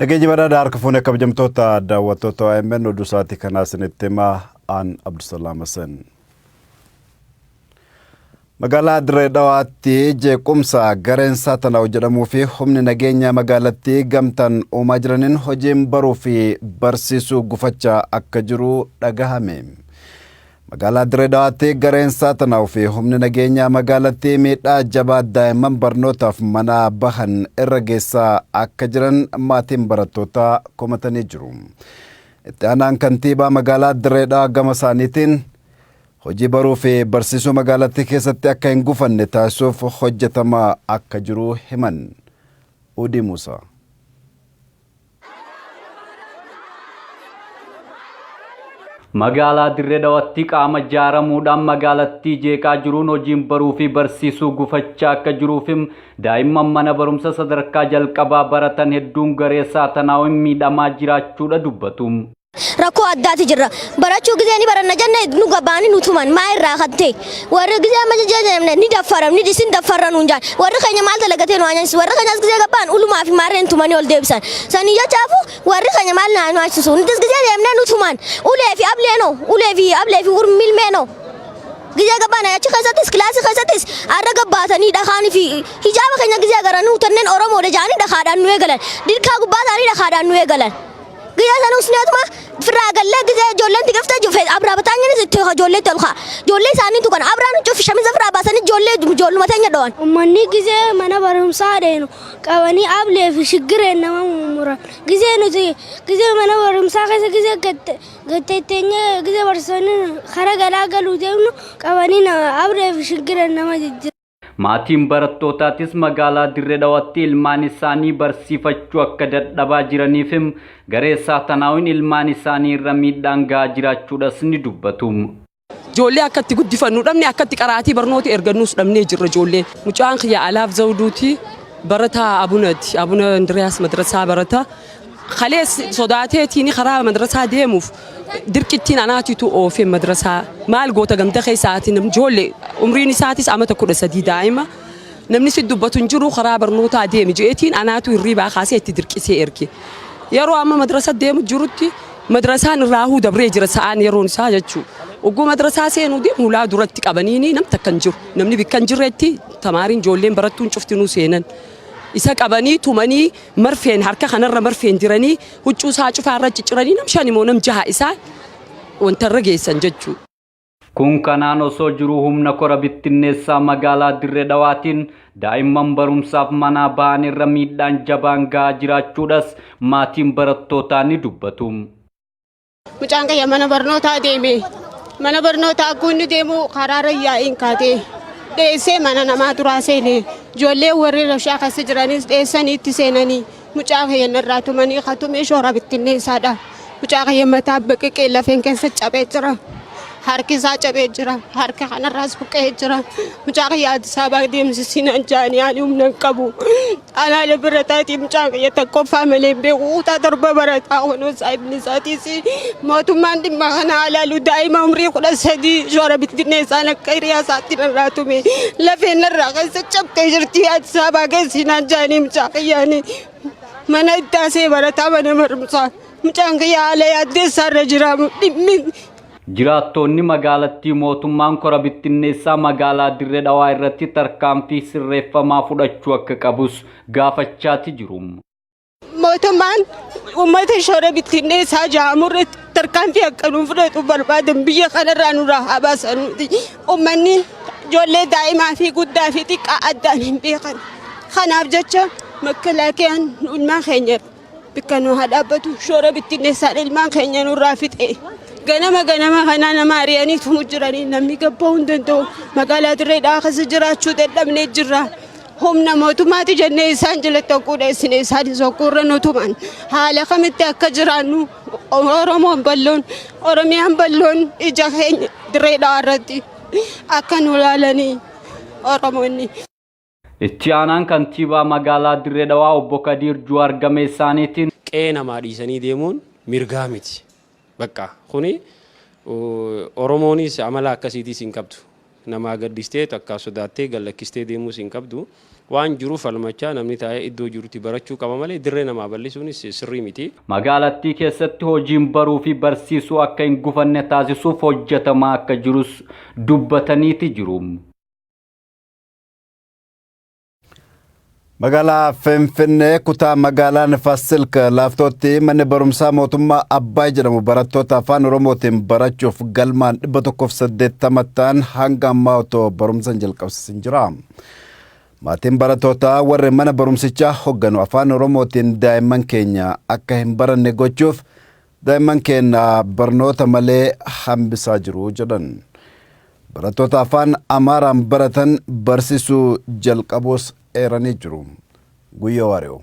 Dhageenyi badaa harka fuunee kabajamtoota daawwattoota OMN oduu isaatii kanaa isinitti himaa aan Abdusalaam Hasan. Magaalaa Dirree Dhawaatti jeequmsa gareen Saatalaw jedhamuu fi humni nageenya magaalattii gamtaan uumaa jiraniin hojiin baruu fi barsiisuu gufachaa akka jiru dhagahame. Magaalaa Dirree Dhawaatti gareen Saatalaw fi humni nageenya magaalattii miidhaa jabaa daa'imman barnootaaf manaa bahan irra geessaa akka jiran maatiin barattootaa komatanii jiru. Itti aanaan kantiibaa magaalaa Dirree Dhawaa gama isaaniitiin hojii baruu fi barsiisuu magaalattii keessatti akka hin gufanne taasisuuf hojjetamaa akka jiru himan. Uudii Muusaa. Magaalaa Dirree Dhawatti qaama ijaaramuudhaan magaalattii jeeqaa jiruun hojiin baruu fi barsiisuu gufachaa akka jiruuf Daa'imman mana barumsa sadarkaa jalqabaa baratan hedduun garee saatanaawin miidhamaa jiraachuudha dubbatu. Rakkoo addaati jirra. Barachuu gizee ni baranna jenne nu gabaani nu tuman maa irraa kattee warri gizee amma jajjajamne ni daffaram ni dhisin daffarra nuun jaan warri keenya maal dalagatee nu aanyansis warri keenyas gizee gabbaan ulumaa fi maarreen tumanii ol deebisan sanii jechaafu warri keenya maal naa nu aansisu nutis gizee deemnee nu tuman ulee fi ablee noo ulee fi ablee fi urmilmee noo Gizee gabbaan achi keessattis kilaasii keessattis arra gabbaatanii dhakaan fi hijaaba keenya gizee agaranii utanneen Oromoodha jedhanii dhakaadhaan nu eegalan. Dirkaa gubbaa isaanii dhakaadhaan nu eegalan. Gizee sana usneetuma firraa gallee gizee ijoolleen tiqiftee jufe abraa bataanyinis itti ijoolleetti ol ka'a. Ijoollee isaaniitu kana abraan cufi shamiza firraa baasanii ijoollee ijoolluma teenya dhawan. Uummanni gizee mana barumsaa deenu qabanii ablee fi shiggireen nama mummuran. Gizee nuti gizee mana barumsaa keessa gizee gatte Gattee teenyee gizee barsiisonni karaa galaa galuu deemnu qabanii na abree fi shiggiran nama jijjiira. Maatiin barattootaatis magaalaa Dirre Dhawatti ilmaan isaanii barsiifachuu akka dadhabaa jiraniif him, garee Saatanaawiin ilmaan isaanii irra miidhaan gahaa jiraachuudhas ni dubbatu. Ijoollee akka itti guddifannu dhabne akka itti qaraatii barnooti ergannuus dhabnee jirra ijoollee. Mucaan kiyya Alaaf Zawuduuti barataa Abunaati. Abuna Indiriyaas madrasaa barata. Kalees sodaateetiini karaa madrasaa deemuuf dirqittiin anaatitu oofe madrasaa. Maal goota ganda keessa ati nam ijoollee umriin isaatis amata kudha sadii daa'ima. Namni si dubbatu hin jiru karaa barnootaa deemi je'eetiin anaatu hirriibaa kaasee itti dirqisee erge. Yeroo amma madrasa deemu jirutti Madrasaan irraahuu dabree jira sa'aan yeroon isaa jechuu. Ogguu madrasaa seenuu deemu hulaa duratti qabaniini nam takka hin jiru. Namni bikka hin jirretti tamaariin ijoolleen barattuun cuftinuu seenan. Isa qabanii tumanii marfeen harka kanarra marfeen diranii huccuu isaa cufaa irra cicciranii nam shani moo nam jaha isaa wanta irra geessan jechuu. Kun kanaan osoo jiruu humna kora bittinneessaa magaalaa Dirre Dhawaatiin daa'imman barumsaaf manaa ba'an irra miidhaan jabaan ga'aa jiraachuudhas maatiin barattootaa ni dubbatu. Mucaan kiyya mana barnootaa deeme. Mana barnootaa akkuu inni deemu karaarra yaa'iin kaatee dheessee mana namaa turaa seene. Ijoollee warri rashaa keessa jiranis dheessanii itti seenanii. Mucaa kiyya narraa tumanii ka tume shoora bittinneessaadha. Mucaa kiyya mataa biqiqee lafeen keessa cabee jira. Harki isaa cabee jira. Harka kanarraas buqqa'ee jira. Mucaa kiyya Addis Ababaa deemsisii naan jedhanii ani humna hin qabu. Anaa lafarra taa'eeti mucaan kiyya tokkoffaa malee hin beeku kutaa torba barataa kunoo saahibni isaatiis Mootummaan dhimma kana haalaalu daa'ima umrii kudha sadii shoora bittinneessaan akka hiriyaa isaatti narraa tume lafeen narraa keessa cabtee jirti ati saabaa geessinaan jaanii mucaa kiyyaanii mana ittaasee barataa mana barumsaa mucaan kiyyaa haala yaaddeessaarra jiraamu dhimmi Jiraattoonni magaalattii mootummaan kora bittinneessaa magaalaa Dirree Dhawaa irratti tarkaanfii sirreeffamaa fudhachuu akka qabus gaafachaati jiru. Mootummaan uummata shoora bittinneessaa jaamurratti tarkaanfii akka nuuf fudhatu barbaadan biyya kanarraa nurraa haa baasan nuti. Uummanni ijoollee daa'imaa fi guddaa fi xiqqaa addaan hin beekan. Kanaaf jecha makkalaakiyaan ilmaan keenya bakka nu haa dhaabbatu shoora bittinneessaan ilmaan keenya nurraa fixe. Ganama ganama kanaa nama ari'anii tumu jiranii namni gabba'uu hin danda'u. Magaalaa dirree dhaakasa jiraachuu dadhabnee jirra. Humna mootummaati jennee isaan jalatti hogguu dheessine isaanis hogguurra nu tuman. Haala kamitti akka jiraannu Oromoon balloon, Oromiyaan balloon ija keenya dirree dhawaa irratti akka nu laalanii Oromoonni. Itti aanaan kantiibaa magaalaa Dirree Dhawaa obbo Kadiir Juwaar gama isaaniitiin. Qe'ee namaa dhiisanii deemuun mirgaa miti. Baqqa kuni oromoonis amala akkasiitis hin qabdu. Namaa gaddistee takka sodaattee gad lakkistee deemuus hin qabdu. Waan jiru falmachaa namni taa'ee iddoo jirutti barachuu qaba malee dirree namaa bal'isuunis sirrii miti. Magaalattii keessatti hojiin baruu fi barsiisuu akka hin gufanne taasisuuf hojjetamaa akka jirus dubbataniiti jiru. Magaalaa Finfinnee kutaa magaalaa Nifasilk laaftootti manni barumsaa mootummaa Abbaay jedhamu barattoota afaan Oromootiin barachuuf galmaan 180 ta'an hanga ammaa otoo barumsa hin jalqabsiisin jira. Maatiin barattootaa warri mana barumsichaa hogganu afaan Oromootiin daa'imman keenya akka hin baranne gochuuf Daa'imman keenya barnoota malee hambisaa jiru jedhan. Barattoota afaan Amaaraan baratan barsisuu jalqabuus eeranii jiru. Guyyoo Waariyoo.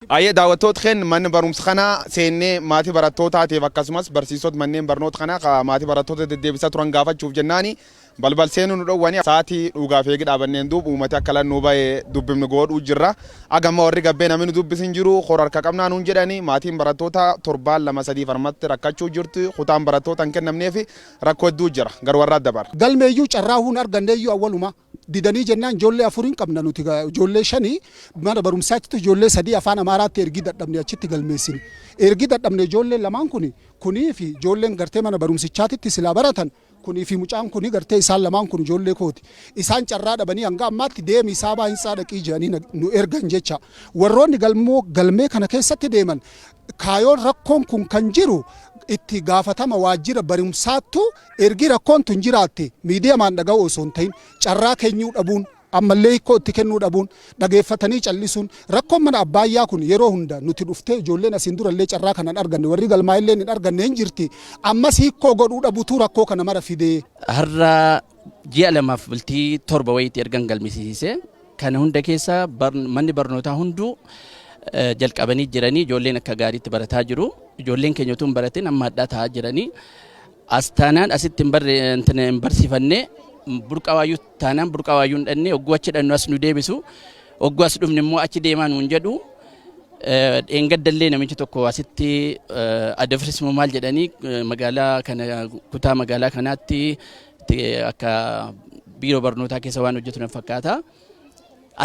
Ayyee daawwattoota keenya manni barumsa kanaa seennee maatii barattootaatiif akkasumas barsiisota manneen barnoota kanaa maatii barattoota deddeebisaa turan gaafachuuf jennaani Balbal seenu nu dhowwani saati dhuugaaf eegi dhaabanneen duub uumati akka lan nuu baye dubbifn goodhuu jirra. Aga amma warri gabbee nami nu dubbis hin jiru. Hor harka qabnaa nuun jedhani. Maatiin barattootaa torbaan lama sadii farmatti rakkachuu jirti. Kutaan barattoota hin kennamneefi rakko hedduu jira. Gar warraa dabar. Galmeeyyuu carraa huun arganneeyyuu awwaluma didanii jennaan ijoollee afur hin qabna nuti ijoollee shani mana barumsaattitu ijoollee sadii afaan amaaraatti ergii dadhabne achitti galmeessine. Ergi dadhabne ijoolleen lamaan kuni kunii fi ijoolleen gartee mana barumsichaatitti silaa baratan Kunii fi mucaan kun gartee isaan lamaan kun ijoollee kooti. Isaan carraa dhabanii hanga ammaatti deemii saabaa hintsaa dhaqii jedhanii na- nu ergan jecha. Warroonni galmoo galmee kana keessatti deeman kaayoon rakkoon kun kan jiru itti gaafatama waajjira barumsaattu ergi rakkoon tun jiraatte miidiyamaan dhaga'uu osoo hin ta'in carraa keenyuu dhabuun Ammallee hikkoo itti kennuu dhabuun, dhageeffatanii cal'isuun, rakkoon mana abbaayyaa kun yeroo hunda nuti dhuftee ijoolleen asiin durallee carraa kana hin arganne, warri galmaa'elleen hin arganne hin jirti, ammas hikkoo godhuu dhabutuu rakkoo kana mara fide. Har'a ji'a lamaaf bultii torba wayiitti ergan galmisiisisee kana hunda keessa manni barnootaa hunduu jalqabanii jiranii ijoolleen akka gaariitti barataa jiru. Ijoolleen keenya utuu hin baratin amma hadhaa taa'aa jiranii. As taanaan asitti hin barre intina hin barsiifanne burqaa waayyuu taanaan burqaa waayyuu hin dhannee ogguu achi dhannu as nu deebisu ogguu as dhumne immoo achi deemaa nuun jedhu dheengaddallee namichi tokko asitti adafris moo maal jedhanii magaalaa kana kutaa magaalaa kanaatti akka biiroo barnootaa keessa waan hojjetu na fakkaata.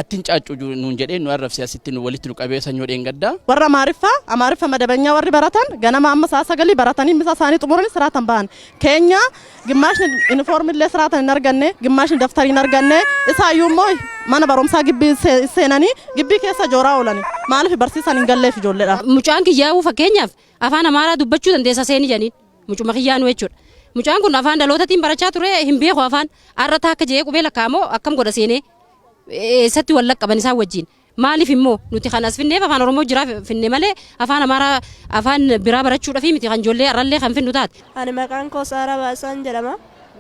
Attin caaccu ju- nuun jedhee nu arrabsee asitti nu walitti nu qabee sanyoo dheengaddaa. Warra Amaariffa, Amaariffa madabanyaa warri baratan ganama amma sa'a sagalii baratanii misa isaanii xumuranii siraatan bahan. Keenya gimmaashni inifoormii illee siraatan hin arganne, gimmaashni daftarii hin arganne, isaa iyyuu immoo mana barumsaa gibbii se- seenanii gibbii keessa jooraa oolani. Maaliif barsiisaan hin galleef ijoolleedha. Mucaan kiyyaa'uu fakkeenyaaf afaan Amaaraa dubbachuu dandeessa seeni jedhaniin. Mucuma kiyyaanu jechuudha. Mucaan kun afaan dhalootatiin barachaa ture hin beeku afaan har'a taakka je'ee qubee lakkaa'amoo akkam godha seenee eessatti wal laqqaban isaan wajjin. Maaliif immoo nuti kan as finneef afaan Oromoo jiraa finne malee afaan Amaaraa afaan biraa barachuudhaaf miti kan ijoollee har'allee kan finnu taate. Ani maqaan koo Saaraa Baasaan jedhama.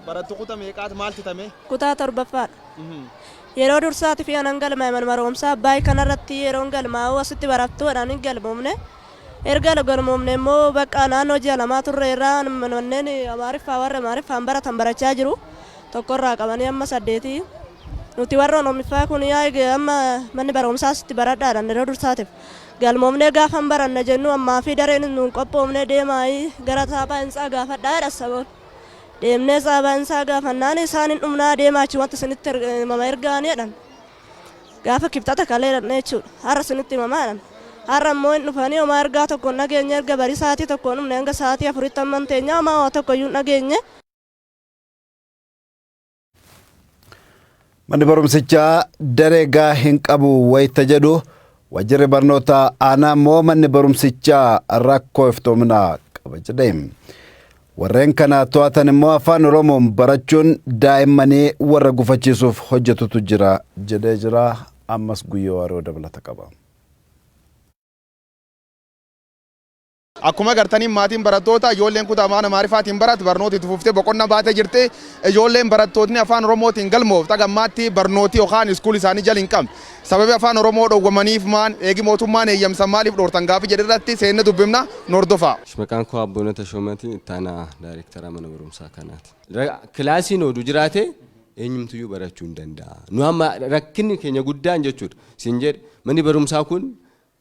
Barattu kuta meeqaati maal fitame? Kutaa torbaffaadha. Yeroo dursaati fi anan galmaa'e manuma barumsaa Abbaay kanarratti yeroon galmaa'u asitti barattuudhaan hin galmoomne. Erga galmoomnee immoo bakka naannoo ji'a lamaa turre irraa manneen Amaariffaa warri Amaariffaan baratan barachaa jiru. Tokkorraa qabanii amma saddeetii. Nuti warri Oromiffaa kun yaa'ii amma manni barumsaas itti baradhaadhaan yeroo dursaatiif galmoomnee gaafan baranna jennu ammaa fi dareen nuun qophoomnee deemaayii gara taaphaa hintsaa gaafadhaa jedha saboon. Deemnee saabaa hintsaa gaafannaan isaan hin dhumnaa deemaa achi wanti isinitti himama ergaanii jedhan. Gaafa kibxata kalee dhaqne jechuudha. Har'a isinitti hima maa jedhan. Har'a immoo hin dhufanii homaa ergaa tokko hin dhageenye erga barii sa'aatii tokkoon dhufne hanga sa'aatii afuritti amman teenyaa homaa waa tokko iyyuu hin dhageenye. Manni barumsichaa daree gaa hin qabu wayita jedhu Wajjirri barnootaa aanaa immoo manni barumsichaa rakkoo iftoominaa qaba jedhe. Warreen kana to'atan immoo afaan Oromoon barachuun daa'immanii warra gufachiisuuf hojjetutu jira jedhee jira. Ammas guyyoo waaroo dabalata qaba. Akkuma agartaniin maatiin barattootaa ijoolleen kutaa afaan Amaariffaatiin barat barnooti itti fuftee boqonna baate jirti. Ijoolleen barattootni afaan Oromootiin galmooft haga ammaatti barnooti yokaan iskuul isaanii jal hin qabne. Sababi afaan Oromoo dhowwamaniif maan? Eegi mootummaan eeyyamsan maaliif dhoortan gaafi jedhu irratti seenne dubbifna. Nu hordofaa. Maqaan koo Abboona Tashoomati, itti aanaa daayreektaraa mana barumsaa kanaati. Kilaasiin odu jiraate eenyumtuyyuu barachuu hin danda'a. Nu amma rakkinni keenya guddaan jechuudha. Siin jedhe manni barumsaa kun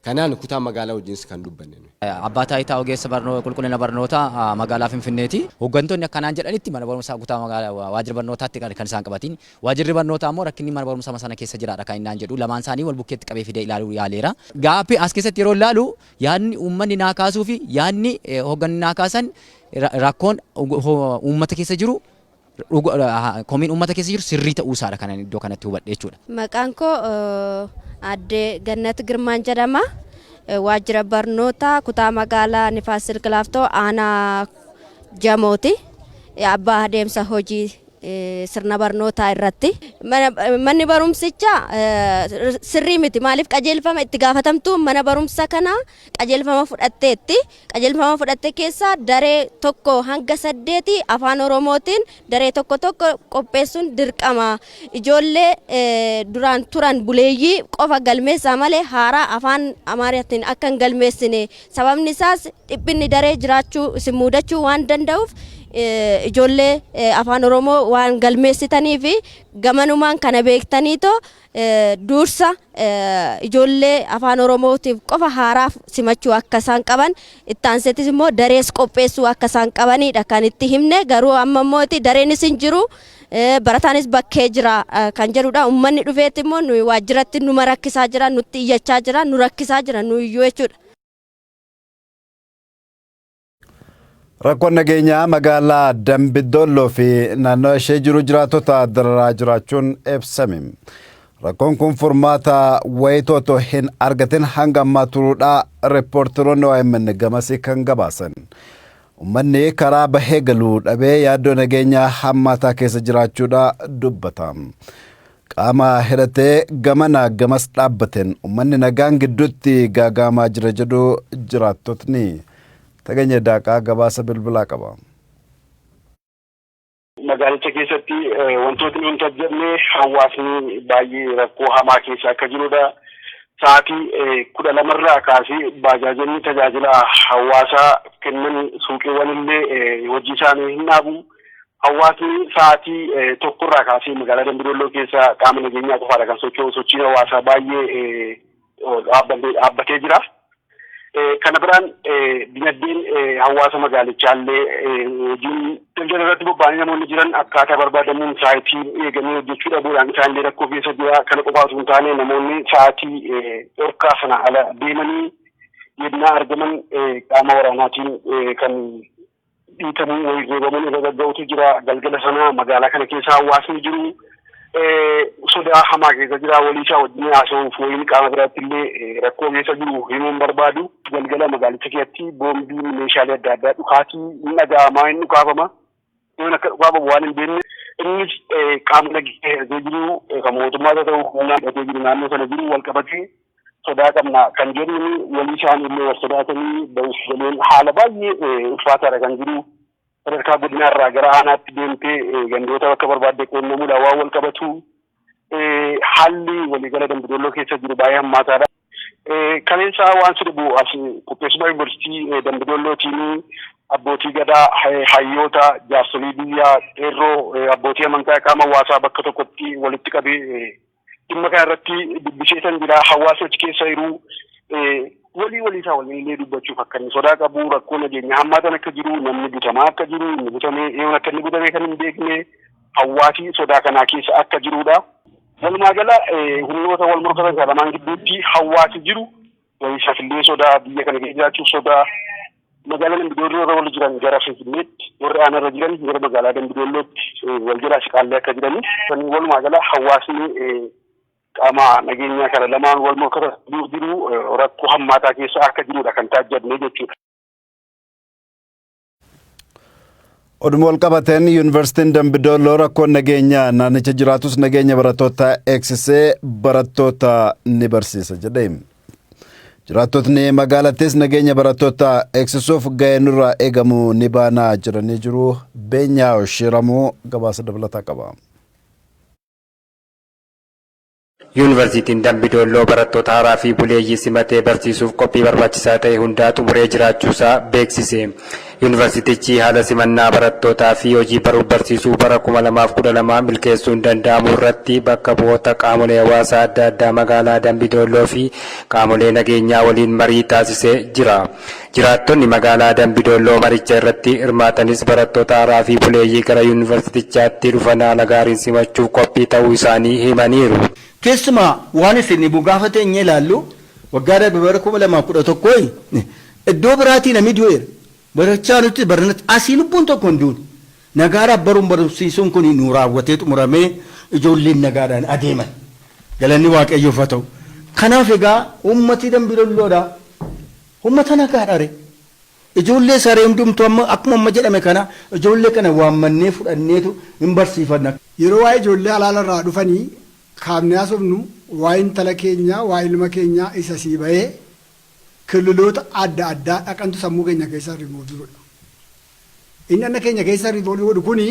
Kanaan kutaa magaalaa wajjinis kan dubbanne nuyi. Abbaa Taayitaa Ogeessa Barnoo Qulqullina Barnootaa Magaalaa Finfinneeti. Hoggantoonni akka naan jedhanitti mana barumsaa kutaa magaalaa waajjira barnootaatti kan kan isaan qabatiin. Waajjirri barnootaa ammoo rakkinni mana barumsama sana keessa jiraadha kan inni naan jedhu. Lamaan isaanii wal bukkeetti qabee fidee ilaaluu yaaleera. Gaaffii as keessatti yeroo ilaalu yaadni uummanni naa kaasuufi yaadni hogganni naa kaasan rakkoon uummata keessa jiru Komiin uummata keessa jiru sirrii ta'uu isaadha kanan iddoo kanatti hubadhe jechuudha. Maqaan koo Aadde Gannat Girmaan jedhama. Waajjira barnootaa kutaa magaalaa Nifaas Silki Laaftoo aanaa Jamooti. Abbaa adeemsa hojii sirna barnootaa irratti. Manni barumsicha sirrii miti. Maaliif qajeelfama itti gaafatamtuun mana barumsa kanaa qajeelfama fudhatteetti. Qajeelfama fudhatte keessaa daree 1-8 Afaan Oromootiin daree tokko tokko qopheessuun dirqama. Ijoollee duraan turan buleeyyii qofa galmeessaa malee haaraa Afaan Amaaraatiin akka hin galmeessine. Sababni isaas dhiphinni daree jiraachuu isin muudachuu waan danda'uuf ijoollee Afaan Oromoo waan galmeessitaniif gamanumaan kana beektaniitoo duursa ijoollee afaan oromootiif qofa haaraaf simachuu akka isaan qaban itti aanseetis immoo darees qopheessuu akka isaan qabaniidha kan itti himne garuu amma immoo itti dareenis hin jiru barataanis bakkee jira kan jedhudha ummanni dhufeetti immoo nuyi waajjiratti numa rakkisaa jira nutti iyyachaa jira nu rakkisaa jira nu iyyuu jechuudha. Rakkoon nageenyaa magaalaa Dambidolloo fi naannoo ishee jiru jiraattota dararaa jiraachuun ibsame. Rakkoon kun furmaata wayitooto hin argatin hanga ammaa turuudhaa riippoorteroonni OMN gamasii kan gabaasan. Uummanni karaa bahee galuu dhabee yaaddoo nageenyaa hammaataa keessa jiraachuudha dubbata. Qaama hidhatee gamanaa gamas dhaabbateen ummanni nagaan gidduutti gaagaamaa jira jedhu jiraattotni. Tagenye Daaqaa gabaasa bilbilaa qaba. Magaalicha keessatti wantootni hin tasgabne hawaasni baay'ee rakkoo hamaa keessa akka jirudha. Sa'aatii kudha lamarraa kaasee baajaajonni tajaajila hawaasaa kennan suuqiiwwan illee hojii isaanii hin dhaabu. Hawaasni sa'aatii tokkorraa kaasee magaalaa Dambidolloo keessa qaama nageenyaa qofaadha kan socho'u sochiin hawaasaa baay'ee dhaabbatee jira. Kana biraan dinagdeen hawaasa magaalichaallee hojiin daldala irratti bobba'anii namoonni jiran akkaataa barbaadamuun sa'aatii eeganii hojjechuu dhabuudhaan isaanillee rakkoo keessa jira. Kana qofaa osoo hin taane namoonni sa'aatii dhorkaa sana ala deemanii yennaa argaman qaama waraanaatiin kan dhiitamuun wayii reebamuun irra gagga'utu jira. Galgala sana magaalaa kana keessa hawaasni jiru sodaa hamaa keessa jira. Walii isaa wajjin haasa'uuf wayii qaama biraatti illee rakkoo keessa jiru himuun barbaadu. Galgala magaalicha keessatti boombiin meeshaalee adda addaa dhukaatii hin dhaga'amaa hin dhukaafama. Yoon akka dhukaafamu waan hin beekne innis qaama nageenyaa hidhatee jiru kan mootummaa ta'u humnaa hidhatee jiru naannoo sana jiru wal qabatee sodaa qabna kan jedhuun walii isaaniillee wal sodaatanii ba'uuf galeen haala baay'ee ulfaataadha kan jiru. Sadarkaa godinaarraa gara aanaatti deemtee gandoota bakka barbaadde quunnamuudhaan waan wal qabatu haalli waliigala Dambidolloo keessa jiru baay'ee hammaataadha. Kaleessaa waan si dhibu as qopheessummaa yuunivarsiitii Dambidollootiin abbootii gadaa, hayyoota, jaarsolii biyyaa, qeerroo, abbootii amantaa qaama hawaasaa bakka tokkotti walitti qabee dhimma kana irratti dubbiseetan jira hawaasni achi keessa jiru walii walii isaa waliin illee dubbachuuf akka inni sodaa qabu rakkoo nageenya hammaatan akka jiru namni butamaa akka jiru inni butamee eeyoon akka inni butamee kan hin beekne hawaasi sodaa kanaa keessa akka jirudha. Walumaa gala humnoota wal morkatan kana lamaan gidduutti hawaasi jiru Gadi shafillee sodaa biyya kana keessa jiraachuuf sodaa magaalaa Dambidolloo irra warri jiran gara Finfinneetti warri aanaa irra jiran gara magaalaa Dambidollootti wal jalaa siqaallee akka jiranii kan walumaa gala hawaasni qaama nageenyaa kana lamaan wal morkata jiru rakkoo hammaataa keessa akka jirudha kan taajjabne jechuudha. Oduma wal qabateen yuunivarsiitiin Dambidooloo rakkoon nageenyaa naannicha jiraatus nageenya barattootaa eegsisee barattoota ni barsiisa jedhe. Jiraattotni magaalattis nageenya barattootaa eegsisuuf gahee nurraa eegamu ni baanaa jedhanii jiru. Beenyaa Shiramuu gabaasa dabalataa qaba. Yuunivarsiitiin Dambi Doolloo barattoota haaraa fi buleeyyii simatee barsiisuuf qophii barbaachisaa ta'e hundaa xumuree jiraachuusaa beeksise. Yuunivarsiitichi haala simannaa barattootaa fi hojii baruuf barsiisuu bara 2012 milkeessuun danda'amuu irratti bakka bu'oota qaamolee hawaasaa adda addaa magaalaa Dambi Doolloo fi qaamolee nageenyaa waliin marii taasisee jira. Jiraattonni magaalaa Dambi Doolloo maricha irratti hirmaatanis barattoota haaraa fi buleeyyii gara Yuunivarsiitichaatti dhufan haala gaariin simachuuf qophii ta'uu isaanii himaniiru. Keessumaa waan fnbo gaafa teenyee ilaallu waggaa darbe bara 2011 iddoo biraatii namni du'eera. Barachaa nutti baranatti asii lubbuun tokko hin duune. Nagaadhaaf baruun barumsiisuun kuni nuu raawwatee xumuramee ijoolleen nagaadhaan adeeman. Galanni Waaqayyoof haa ta'u. Kanaaf egaa uummati Dambi Dolloodha. Uummata nagaadhare. Ijoollee isaare hundumtuu amma akkuma amma jedhame kana ijoollee kana waammannee fudhanneetu hin barsiifanna. Yeroo waa'ee ijoollee halaala irraa dhufanii kaafnee haasofnu waa'ee intala keenyaa, waa'ee ilma keenyaa isa asii bahee killiloota adda addaa dhaqantu sammuu keenya keessaa remove godha. Inni anna keenya keessa riiboolii godhu kuni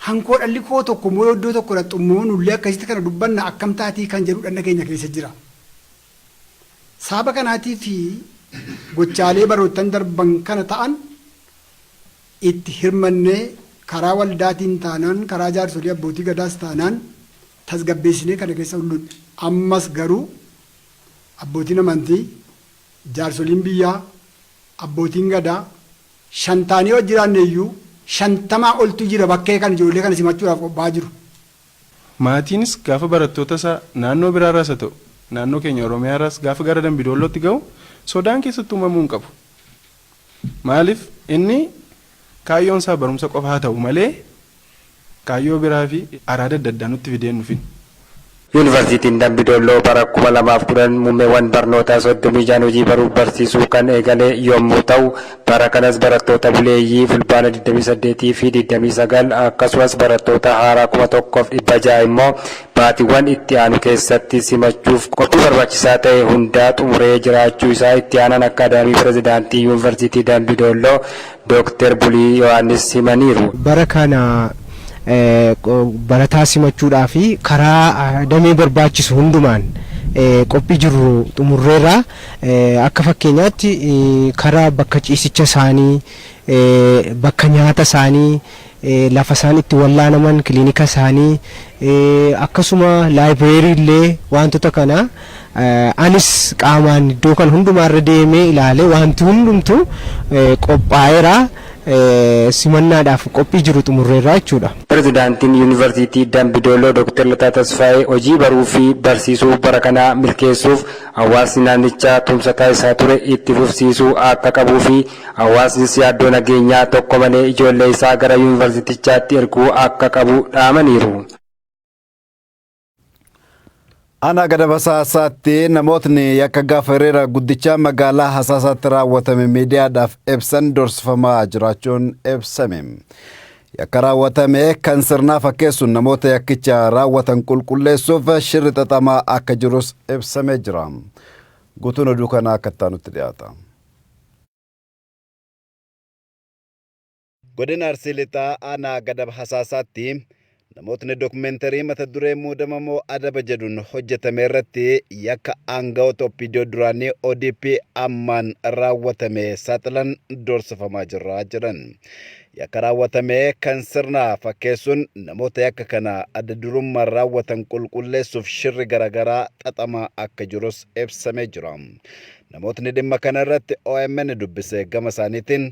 hankoo dhalli koo tokko immoo yoo iddoo tokko dhaqxu immoo nullee akkasitti kana dubbanna akkam taatii kan jedhu dhanna keenya keessa jira. Saaba kanaatii fi gochaalee baroottan darban kana ta'an itti hirmannee karaa waldaatiin taanaan karaa jaarsolii abbootii gadaas taanaan tasgabbeessinee kana keessa ullun ammas garuu abbootiin amantii Jaarsoliin biyyaa, Abbootiin Gadaa, shan taanee yoo jiraanne iyyuu shantamaa oltu jira bakkee kan ijoollee kana simachuudhaaf qophaa'aa jiru. Maatiinis gaafa barattoota isaa naannoo biraa irraas haa ta'u naannoo keenya Oromiyaa irraas gaafa gara Dambi Doollootti gahu sodaan keessatti uumamuu hin qabu. Maaliif inni kaayyoon isaa barumsa qofa haa ta'u malee kaayyoo biraa fi araada adda addaa nutti fidee hin dhufin. Yuunivarsiitiin Dambi Dolloo bara 2010 muummeewwan barnootaa 36n hojii baruuf barsiisuu kan eegale yommuu ta'u, bara kanas barattoota buleeyyii Fulbaana 28 fi 29 akkasumas barattoota haaraa 1,600 immoo baatiwwan itti aanu keessatti simachuuf qophii barbaachisaa ta'e hundaa xumuree jiraachuu isaa itti aanaan akkaadaamii pirezidaantii yuunvarsiitii Dambi Doolloo Dooktar Bulii Yohaannis himaniiru. Bara kana barataa simachuudhaaf karaa damee barbaachisu hundumaan qophii jirru xumurreerra. Akka fakkeenyaatti karaa bakka ciisicha isaanii, bakka nyaata isaanii, lafa isaan itti wallaanaman, kilinika isaanii, akkasuma library illee waantota kana anis qaamaan iddoo kana hundumaa irra deemee ilaale waanti hundumtu qophaa'eera simannaadhaaf qophii jiru xumurreerra jechuudha. Pirezidaantiin Yuunivarsiitii Dambi Dolloo Dooktar Lataa Tasfaayee hojii baruu fi barsiisuu bara kanaa milkeessuuf hawaasni naannichaa tumsa taasisaa ture itti fufsiisuu akka qabuu fi Hawaasnis yaaddoo nageenyaa tokko malee ijoollee isaa gara Yuunivarsiitichaatti erguu akka qabu dhaamaniiru. Aanaa Gadabasaa Hasaasaatti namootni yakka gaafa hiriira guddichaa magaalaa Hasaasaatti raawwatame miidiyaadhaaf ibsan dorsifamaa jiraachuun ibsame. Yakka raawwatame kan sirnaa fakkeessuun namoota yakkicha raawwatan qulqulleessuuf shirri xaxamaa akka jirus ibsamee jira. Guutuun oduu kanaa akka itti aanutti dhiyaata. Godina Arsii Lixaa aanaa Gadab Hasaasaatti namootni dokumeentarii mata duree muudama moo adaba jedhuun hojjetame irratti yakka aangawoota OPDO duraanii ODP ammaan raawwatame saaxilan doorsifamaa jirra jedhan. Yakka raawwatame kan sirnaa fakkeessuun namoota yakka kana adda durummaan raawwatan qulqulleessuuf shirri garaagaraa xaxamaa akka jirus ibsamee jira. Namootni dhimma kana irratti omn dubbise gama isaaniitiin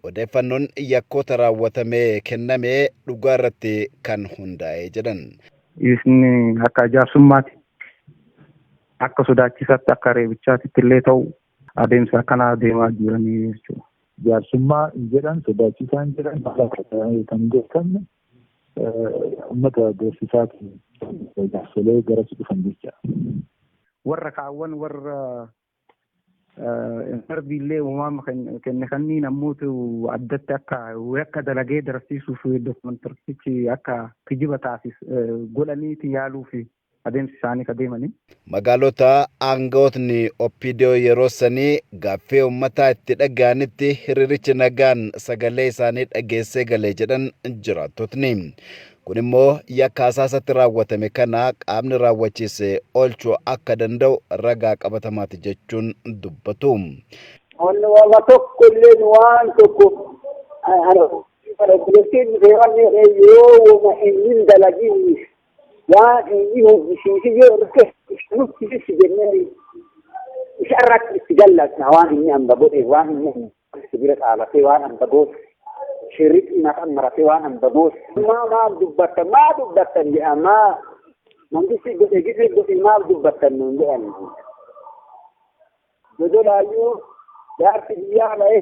odeeffannoon yakkoota raawwatamee kenname dhugaa irratti kan hundaa'e jedhan. Isni akka jaarsummaati akka sodaachisaatti akka reebichaatitti illee ta'u adeemsa akkanaa deemaa jiranii jechuudha. Jaarsummaa hin jedhan, sodaachisaan jedhan haala kan beekamne. Ummata doorsisaatiin jaarsolee garasi dhufan jecha. Warra kaawwan warra darbiillee uumama kenne kanniin ammuutu addatti akka yakka dalagee darasiisuuf dokumentartichi akka kijiba taasif godhaniiti yaaluuf adeemsi isaanii ka deemanii. Magaalota aangawootni Opdo yeroo sanii gaaffii ummataa itti dhaga'anitti hiriirichi nagaan sagalee isaanii dhageessee gale jedhan jiraattotni. Kun immoo yakka hasaasatti raawwatame kana qaamni raawwachiise oolchuu akka danda'u ragaa qabatamaati jechuun dubbatu. Wanni wama tokko illee nu waan tokko obboleettiin dhufee wanni yoo wama inni hin dalagiin Yaa inni hojjisiisi yoo irratti nutti ibsi jennee isa irratti itti gallatna waan inni hamba godhe waan inni itti bira dhaabatee waan hamba goote shirritti maqan maratee waan hamba goote maa maal dubbattan maa dubbattan jedha maa mangisti godhe gise godhe maal dubbattan nuun jedhan dodolaayyuu jaarsi biyyaa ba'ee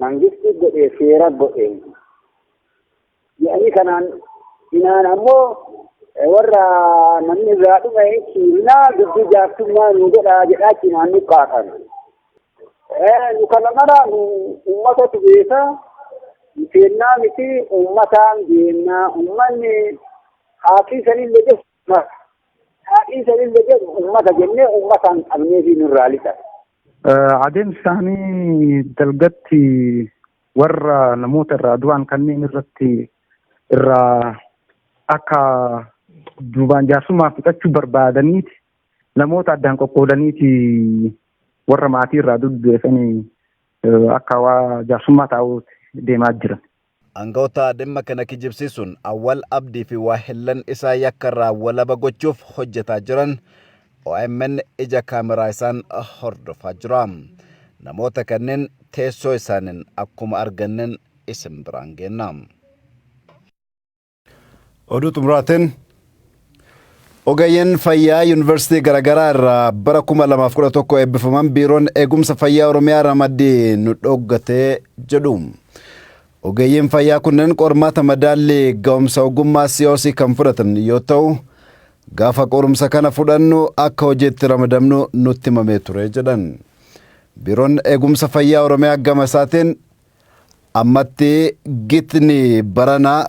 Mangisti godhee seera godhee jedhanii kanaan inaan ammoo warra namni irraa dhume ciimnaa dubbii jaartummaa nu godhaa jedhaa cimaan nu kaatan. Nu kana mara nu uummatatu beeka seennaa miti uummataan deemnaa uummanni haakii sanillee jedhu uummata haakii sanillee jedhu uummata jennee uummataan qabnee fi nurraa lixa. Adeemsi isaanii dalgatti warra namoota irraa du'an kanneen irratti irraa akka duubaan jaarsummaa fixachuu barbaadaniiti namoota addaan qoqqoodaniiti warra maatii irraa duddeessanii akka waa jaarsummaa taa'uutti deemaa jiran. Angawoota dhimma kana kijibsiisuun Awwal Abdii fi waahillan isaa yakka irraa walaba gochuuf hojjetaa jiran omn ija kaameraa isaan hordofaa jira. Namoota kanneen teessoo isaaniin akkuma arganneen isin biraan geenna. Oduu xumuraatiin ogeeyyiin fayyaa yuunivarsiitii garaagaraa irraa bara 2011 eebbifaman biiroon eegumsa fayyaa Oromiyaa ramaddii nu dhoggatee jedhu. Ogeeyyiin fayyaa kunneen qormaata madaallii ga'umsa ogummaa COC kan fudhatan yoo ta'u, gaafa qorumsa kana fudhannu akka hojiitti ramadamnu nutti himamee ture jedhan. Biiroon eegumsa fayyaa Oromiyaa gama isaatiin Ammatti gitni baranaa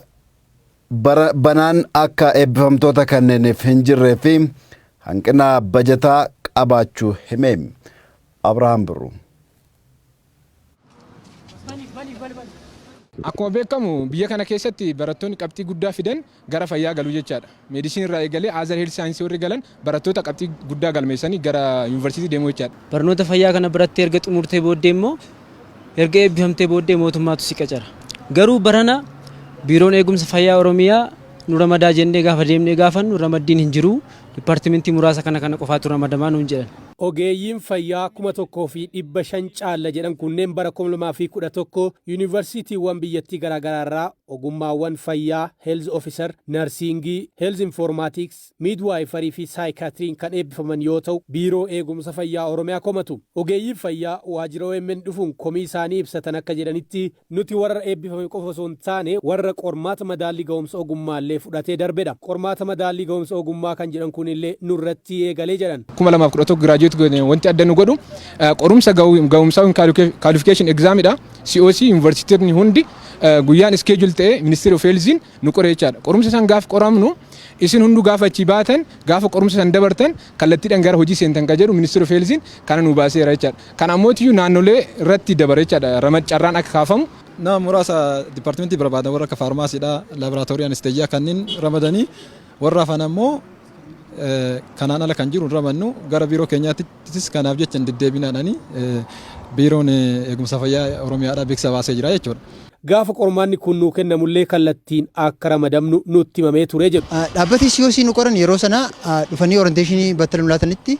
bara banaan akka eebbifamtoota kanneeniif hin jirree fi hanqina bajataa qabaachuu hime. Abrahaam Birruu. Akkuma beekamu biyya kana keessatti barattoonni qabxii guddaa fidan gara fayyaa galu jechaadha. Medicine irraa eegalee other health science warri galan barattoota qabxii guddaa galmeessanii gara University deemuu jechaadha. Barnoota fayyaa kana barattee erga xumurtee booddee immoo erga eebbifamtee booddee mootummaatu si qacara. Garuu barana Biiroon Eegumsa Fayyaa Oromiyaa nu ramadaa jennee gaafa deemnee gaafannu ramaddiin hin jiru, departmentii muraasa kana kana qofaatu ramadamaa nuun jedhan. Ogeeyyiin fayyaa 1,500 caalla jedhan kunneen bara 2011 Universitiiwwan biyyattii garaagaraarraa Ogummaawwan fayyaa, Health Officer, Narsiingii, Health Informatics, Midwifery fi Psychiatry'n kan eebbifaman yoo ta'u, Biiroo Eegumsa Fayyaa Oromiyaa komatu. Ogeeyyiin fayyaa waajjira omn dhufuun komii isaanii ibsatan akka jedhanitti, nuti warra eebbifame qofa osoo hin taane, warra qormaata madaallii gahumsa ogummaallee fudhatee darbedha. Qormaata madaallii gahumsa ogummaa kan jedhan kunillee nurrattii eegale jedhan. 2011 graduate goone wanti adda nu godhu qorumsa gahumsaa ykn qualification exam dha. COC yuunivarsiitonni hundi guyyaan iskeejul ta'ee ministeera of heelziin nu qore jechaadha. Qorumsa san gaaf qoramnu isin hunduu gaafa achii baatan gaafa qorumsa san dabartan kallattiidhaan gara hojii seentan kan jedhu ministeera of heelziin kana nu baaseera jechaadha. Kana ammootiyyuu naannolee irratti dabara jechaadha ramad carraan akka kaafamu. Nama muraasa dipaartimentii barbaadan warra akka faarmaasiidhaa, laaboraatoorii anesteejiyaa kanneen ramadanii warra hafan ammoo kanaan ala kan jiru hin ramadnu gara biiroo keenyaatti Achitis kanaaf jecha hin deddeebinaadhaan Biiroon Eegumsa Fayyaa Oromiyaadhaa beeksisa baasee jira jechuudha. Gaafa qormaanni kun nuu kennamullee kallattiin akka ramadamnu nutti himamee ture jedhu. Dhaabbati COC nu qoran yeroo sana dhufanii oranteeshinii battala nu laatanitti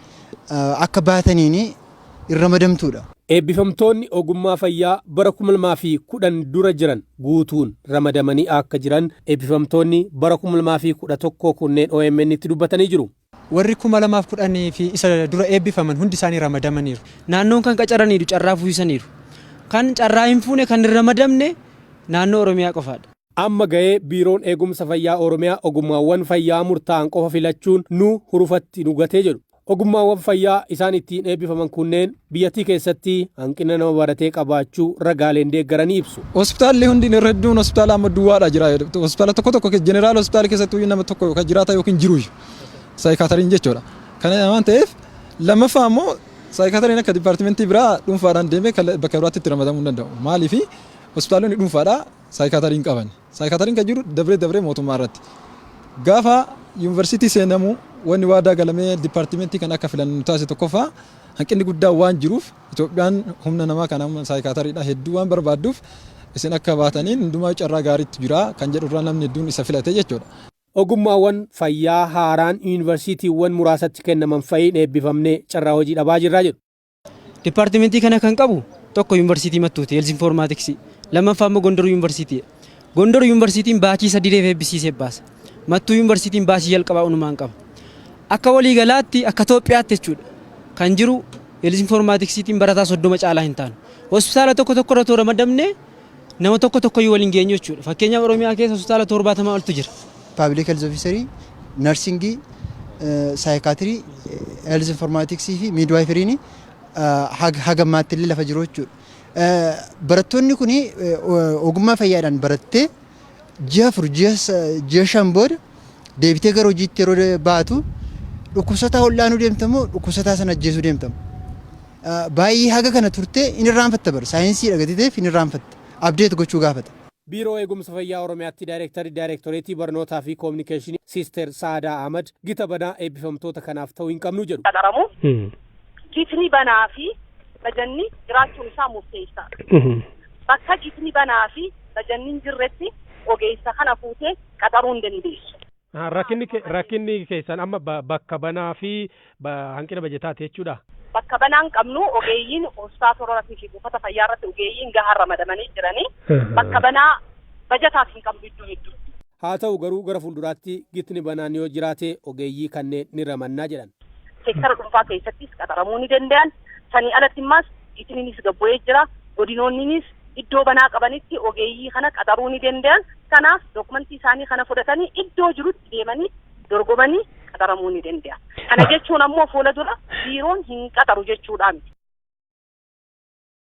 akka baataniin hin ramadamtuudha. Eebbifamtoonni ogummaa fayyaa bara 2010 dura jiran guutuun ramadamanii akka jiran eebbifamtoonni bara 2011 kunneen OMNtti dubbatanii jiru. Warri 2010 fi isa dura eebbifaman hundi isaanii ramadamaniiru. Naannoon kan qacaraniiru carraa fuisaniiru. Kan carraa hin fuune, kan hin ramadamne naannoo Oromiyaa qofaadha. Amma gahee Biiroon Eegumsa Fayyaa Oromiyaa ogummaawwan fayyaa murtaa'an qofa filachuun nu hurufatti nu gate jedhu. Ogummaawwan fayyaa isaan ittiin eebbifaman kunneen. Biyyattii keessatti hanqina nama baratee qabaachuu ragaaleen deeggaranii ibsu. Hospitaalli hundi irra hedduun hospitaala amma duwwaadha jira. Hospitaala tokko tokko jeneraal hospitaala keessatti iyyuu nama tokko kan jiraata yookiin jiru iyyuu saayikaatariin jechuudha. Kana waan ta'eef lammaffaa immoo saayikaatariin akka dipaartimentii biraa dhuunfaadhaan deemee bakka biraatti itti ramadamuu hin danda'u. Maaliif hospitaalonni dhuunfaadhaa saayikaatarii hin qaban. Saayikaatariin kan jiru dabree dabree mootummaa irratti. Gaafa yuunivarsiitii seenamu wanni waadaa galamee dipaartimentii kan akka filannu nu taasise tokkoffaa hanqinni guddaan waan jiruuf Itoophiyaan humna namaa kana amma saayikaatariidha hedduu waan barbaadduuf isin akka baataniin hundumaa carraa gaariitu jira kan jedhu irraa namni hedduun isa filate jechuudha. Ogummaawwan fayyaa haaraan yuunivarsiitiiwwan muraasatti kennaman fa'iin eebbifamnee carraa hojii dhabaa jirra jedhu. Dipaartimentii kana kan qabu tokko yuunivarsiitii Mattuuti, Health Informatics. Lammaffaa immoo Gondor yuunivarsiitii. Gondor yuunivarsiitiin baachii sadireef eebbisiisee baasa. Mattuu yuunivarsiitiin baachii jalqabaa unumaan qaba. Akka walii galaatti akka Itoophiyaatti jechuudha. Kan jiru Health Informaticstiin barataa soddoma caalaa hin taanu. Hospitaala tokko tokko irra too ramadamne Nama tokko tokkoyyuu wal hin geenyu jechuudha. Fakkeenyaaf Oromiyaa keessa hospitaala 70 oltu jira. Paabilik Heelz Ofiisarii, Narsingii, Saayikaatirii, Heelz Informaatiksii fi Miidwaayifiriin haga ammaatti illee lafa jiru jechuudha. Barattoonni kun ogummaa fayyaadhaan barattee ji'a afur ji'a shan booda deebitee gara hojiitti yeroo baatu dhukkubsataa ol'aanuu deemta moo dhukkubsataa sana ajjeesuu deemta moo? Baay'ee haga kana turtee hin irraanfatta bara saayinsii dhagatiteef hin irraanfatta abdeet gochuu gaafata. Biiroo Eegumsa Fayyaa Oromiyaatti Daayreektarri Daayreektoreetii Barnootaa fi Koominikeeshinii Siisteer Sa'aadaa Ahmad gita banaa eebbifamtoota kanaaf ta'uu hin qabnu jedhu. qaxaramu gitni banaa fi bajanni jiraachuun isaa murteessaadha. Bakka gitni banaa fi bajanni hin jirretti ogeessa kana fuutee qaxaruu hin dandeessu. Rakkinni keessan amma bakka banaa fi hanqina bajataati jechuudhaa? Bakka banaa hin qabnu, ogeeyyiin hospitaala irratti fi buufata fayyaa irratti ogeeyyiin gahaan ramadamanii jiranii, bakka banaa bajataaf hin qabnu iddoo hedduutti. Haa ta'u garuu gara fuulduraatti gitni banaan yoo jiraate ogeeyyii kanneen ni ramanna jedhan. Seektara dhuunfaa keessattis qaxaramuu ni danda'an. Sanii alatti immaas gitniinis gad bu'ee jira. Godinoonniinis iddoo banaa qabanitti ogeeyyii kana qaxaruu ni danda'an. Kanaaf dookumantii isaanii kana fudhatanii iddoo jirutti deemanii dorgomanii qaxaramuu ni danda'an. Kana jechuun ammoo fuula dura biiroon hin qaxaru jechuudhaa miti.